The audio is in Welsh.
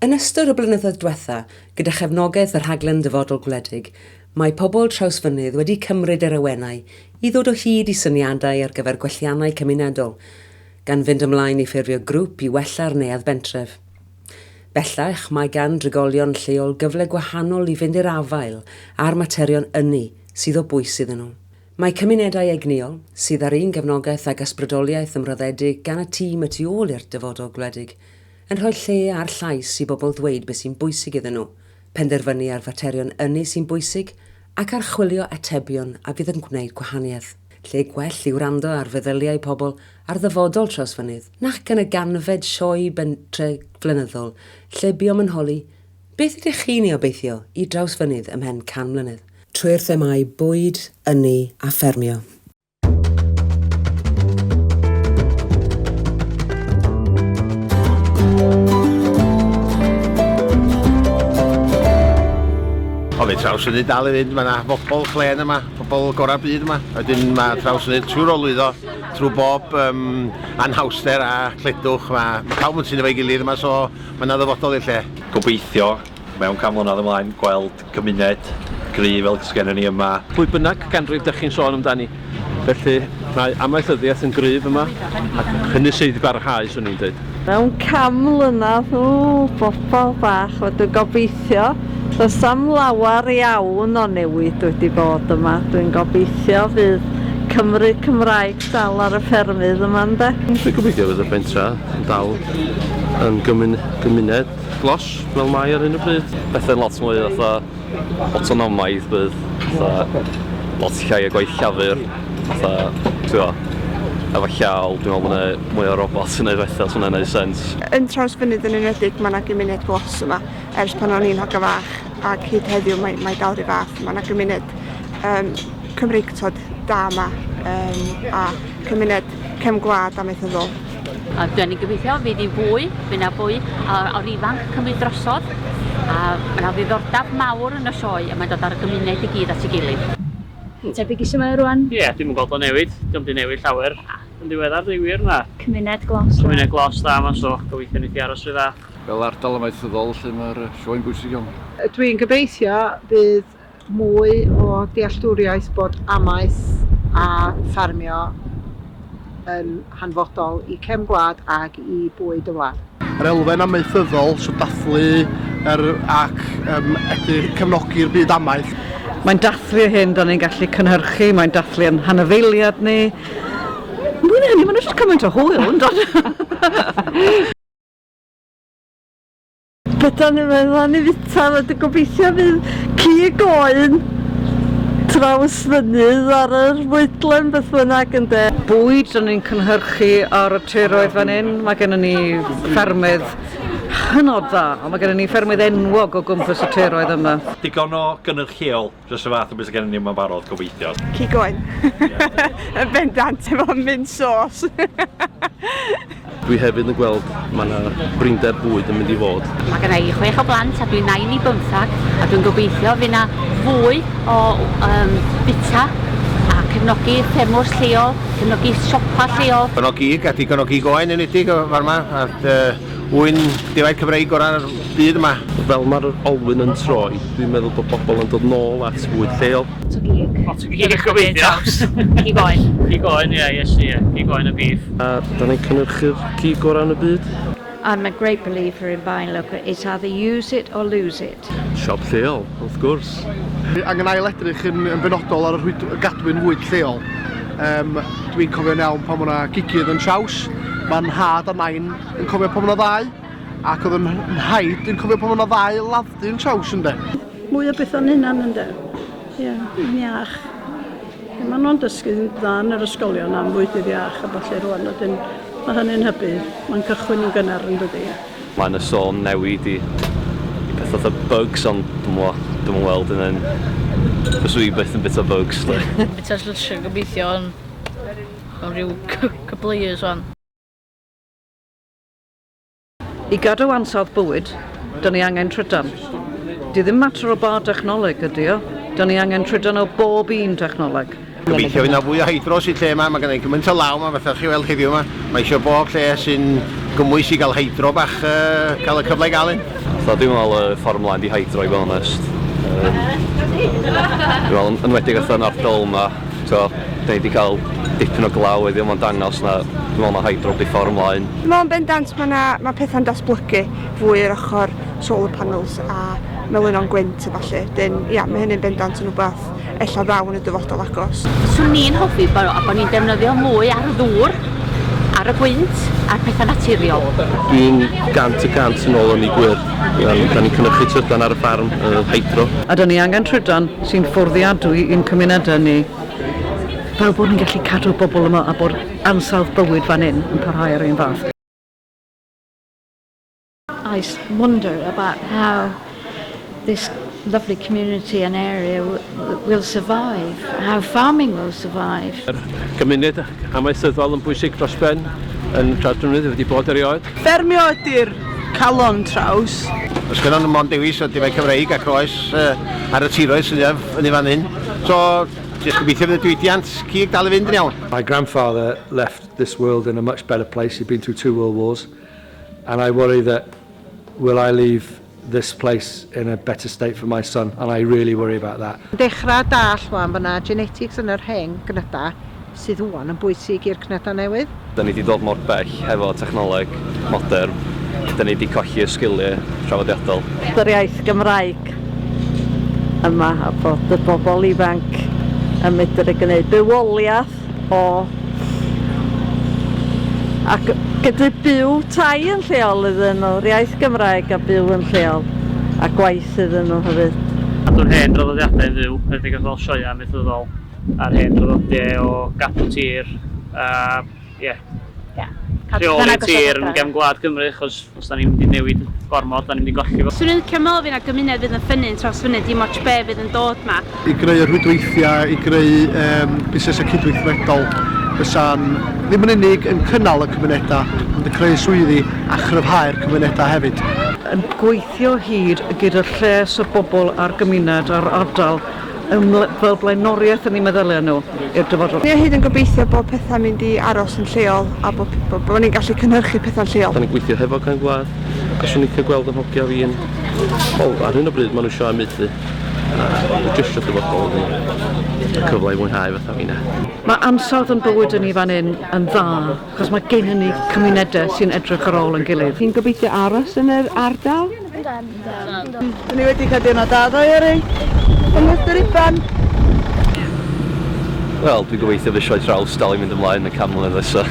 Yn ystod y blynyddoedd dwetha, gyda chefnogaeth y Rhaglen Dyfodol Gwledig, mae pobl Trawsfynydd wedi cymryd yr awenau i ddod o hyd i syniadau ar gyfer gwelliannau cymunedol, gan fynd ymlaen i ffurfio grŵp i wella'r neuadd bentref. Bellach, mae gan drigolion lleol gyfle gwahanol i fynd i'r afael â'r materion ynni sydd o bwys iddyn nhw. Mae cymunedau egnïol, sydd ar un gefnogaeth ag ysbrydoliaeth ymroddedig gan y tîm y tu ôl i'r dyfodol gwledig, yn rhoi lle a'r llais i bobl ddweud beth sy'n bwysig iddyn nhw, penderfynu ar faterion ynni sy'n bwysig ac archwilio atebion a fydd yn gwneud gwahaniaeth. Lle gwell i wrando ar feddyliau pobl ar ddyfodol Trawsfynydd nac yn y ganfed sioe bentre flynyddol lle buom yn holi, Beth ydych chi'n ei obeithio i Drawsfynydd ymhen can mlynedd? trwy'r themâu bwyd, ynni a ffermio. O, fe trawsynnu dal i fynd, mae yna bobl clen yma, bobl gorau byd yma. Wedyn mae trawsynnu trwy'r olwyddo, trwy bob um, anhawster a cledwch. Mae ma pawb yn sy'n efo'i gilydd yma, so mae yna ddyfodol i'r lle. Gobeithio mewn canflynedd ymlaen gweld cymuned gryf fel sgennyn ni yma. Pwy bynnag ganrif dych chi'n sôn amdani. Felly, mae amaethyddiaeth yn gryf yma, ac hynny sydd i barhau, swn i'n dweud. Mewn can mlynedd, o, bobol bach, wel dwi'n gobeithio, does na'm lawer iawn o newid wedi bod yma. Dwi'n gobeithio fydd Cymry Cymraeg dal ar y ffermydd yma, ynde? Dwi'n gobeithio fydd y pentra yn dal yn gymuned. glos fel mae ar hyn o bryd. Pethau'n lot mwy fatha autonomaidd bydd, fatha lot llai o gwaith llafur, fatha, ti'n gwybod, efo llaw, dwi'n meddwl bod yna mwy o robot yn gwneud bethau, os yna'n gwneud sens. Yn Trawsfynydd yn enwedig, mae yna gymuned glos yma, ers pan o'n i'n hogan fach, ac hyd heddiw mae, mae dal rhyw fath, mae yna gymuned um, Cymreictod da yma, um, a cymuned cefn gwlad amaethyddol. A dwi yn gobeithio fydd hi'n fwy, fydd na fwy o'r ifanc cymryd drosodd, a mae yna ddiddordeb mawr yn y sioe a mae'n dod â'r gymuned i gyd at ei gilydd. Yn tebyg i su mae o rwan? Ie, dwi'm yn gweld o'n newid, dio'm di newid llawer yn ddiweddar deud gwir, na. Cymuned glos dda. Cymuned glos dda yma so gobeithio neith hi aros ry dda. Fel ardal amaethyddol 'lly ma'r sioe'n bwysig iawn. Dwi'n gobeithio bydd mwy o dealltwriaeth bod amaeth a ffarmio yn hanfodol i cefn gwlad ac i bwyd y wlad. Yr elfen amaethyddol, so dathlu yr ac yym edrych cefnogi'r byd amaeth. Mae'n dathlu yr hyn dan ni'n gallu cynhyrchu, mae'n dathlu ein hanifeiliad ni. Mwy na hynny, mae'n edrych cymaint o hwyl, yn does? Gyda ni mae Rani Fita wedi gobeithio fydd cig oen traws fynydd ar yr fwydlen beth bynnag yn de. Bwyd dan ni'n cynhyrchu ar y tiroedd fan hyn, mae gennym ni ffermydd hynod dda, ond mae gennym ni ffermydd enwog o gwmpas y tiroedd yma. Digon o gynyrch lleol. Jyst y fath o beth sydd gennym ni yma'n barod, gobeithio. Keep going. Yn bendant efo mint sos. Dwi hefyd yn gweld mae yna brinder bwyd yn mynd i fod. Mae gen i chwech o blant a dwi'n nain i bymthag a dwi'n gobeithio fydd yna fwy o um, bita a cefnogi ffermwrs lleol, cefnogi siopa lleol. Cefnogi, gallu cefnogi goen yn edig o'r yma, a Un defaid Cymreig gorau'r byd yma. Fel mae'r olwyn yn troi, dwi'n meddwl bod pobl yn dod nôl at fwyd lleol. Lot o gig. Lot o gig, gobeithio. Cig oen. Cig oen, ie, Iesu, ie. Cig oen a bîff. A da ni'n cynhyrchu'r cig gorau yn y byd. I'm a great believer in buying local, it's either use it or lose it. Fflint. Siop lleol, wrth gwrs. Dwi angen ail-edrych yn benodol ar y rhwyd gadwyn fwyd lleol. Um, Dwi'n cofio'n iawn pan o'na gigydd yn traws, mae nhad a nain yn cofio pan o'na ddau, ac oedd yn nhaid yn cofio pan o'na ddau ladddu yn traws ynde. Mwy o beth o'n hynna'n ynde. Ie, yeah, yn iach. Mae nhw'n dysgu dda yn yr ysgolion am fwyd iach a falle rwan, wedyn mae hynny'n hybu. Mae'n cychwyn yn gynnar yn dydy. Mae yna sôn newid i i peth fatha bugs ond dwi'm yn gwbod, dwi'm yn weld hynna yn... Fyswn i byth yn bita bugs 'de. Dwi'n bita llysiau gobeithio yn mewn rhyw couple of years 'wan. I gadw ansawdd bywyd, 'da ni angen trydan. Di ddim mater o ba dechnoleg ydi o, 'da ni angen trydan o bob un technoleg. Gobeithio fydd 'na fwy o hydros i'r lle 'ma, mae genna i gymaint o law 'ma fatha chi'n weld heddiw 'ma, mae isio bob lle sy'n gymwys i gael hydro bach yy cael y cyfle i gael un. So dwi'n meddwl y ffordd mlaen di hydro i fod yn onest, yym dwi'n meddwl yn enwedig fatha yn ardal 'ma t'wod 'dan ni di cael dipyn o glaw heddiw ma'n dangos na dwi'n meddwl ma' hydro di ffordd mlaen. Dwi'n meddwl yn bendant ma' 'na ma' petha'n datblygu fwy yr ochr solar panels a melynon gwynt a ballu, 'dyn ia ma' hynny'n bendant yn wbath ella ddaw yn y dyfodol agos. Swn i'n hoffi bod bo ni'n defnyddio mwy ar y ddŵr, ar y gwynt, a'r pethau naturiol. Dwi'n gant y cant yn ôl yn ei gwir. Da ni'n cynnychu trydan ar y ffarm, y hydro. A da ni angen trydan sy'n fforddiadwy i'n cymunedau ni. Fel bod ni'n gallu cadw'r bobl yma a bod ansawdd bywyd fan hyn yn parhau yr un fath. I just wonder about how this lovely community and area will survive, how farming will survive. Yr gymuned amaethyddol yn bwysig dros ben yn Tradwnydd wedi bod erioed. Ffermio ydy'r calon traws. Os gyda nhw mond dewis o difau Cymreig ac oes uh, ar y tiroedd sydd yn ei fan hyn. So, just gobeithio bydd y diwydiant cig dal i fynd yn iawn. My grandfather left this world in a much better place. He'd been through two world wars. and I worry that will I leave this place in a better state for my son and I really worry about that. Yn dechrau dallt wan fod na genetics yn yr hen gnydau sydd wan yn bwysig i'r cnydau newydd. Da ni di dod mor bell hefo technoleg modern, da ni di colli y sgilie traddodiadol. Yr iaith Gymraeg yma a bod y bobl ifanc yn medru gneud bywoliath o ac gydu byw tai yn lleol iddyn nhw, iaith Gymraeg a byw yn lleol a gwaith iddyn nhw hefyd. Cadw'r hen draddodiadau yn fyw, er enghraifft fel sioeau amaethyddol a'r hen draddodiau o gadw tir a ie, rheoli tir yn gefn gwlad Cymru achos Os da ni'n mynd i newid gormod, da ni'n mynd i golli fo. Swn i'n licio meddwl fy' 'na gymuned fydd yn ffynnu'n trawsfynu dim otsh be' fydd yn dod 'ma. I greu y rhwydweithiau, i greu yym busnesau cydweithredol fysa'n ddim yn unig yn cynnal y cymunedau ond yn creu swyddi a chryfhau'r cymunedau hefyd. Yn gweithio hyd gyda'r lles y bobl a'r gymuned a'r ardal Yn fel blaenoriaeth yn eu meddyliau nhw i'r dyfodol. Ni o hyd yn gobeithio bod pethau'n mynd i aros yn lleol a bod bod bod ni'n gallu cynhyrchu pethau'n lleol. Da ni'n gweithio hefo Cefn Gwlad a swn i'n licio gweld yn hogia fi'n, wel ar hyn o bryd ma' nhw isio amaethu a jyst isio dyfodol iddyn nhw a cyfle i fwynhau fatha finne. Mae ansawdd yn bywyd i ni fan hyn yn dda. Achos mae gennym ni cymunedau sy'n edrych ar ôl yn gilydd. Chi'n gobeithio aros yn yr ardal? Dyn ni wedi cael diwrnod da ddoe ar ei ymwrth yr ifan. Wel, dwi'n gobeithio fy sioe traws dal i mynd ymlaen y cam mlynedd nesaf.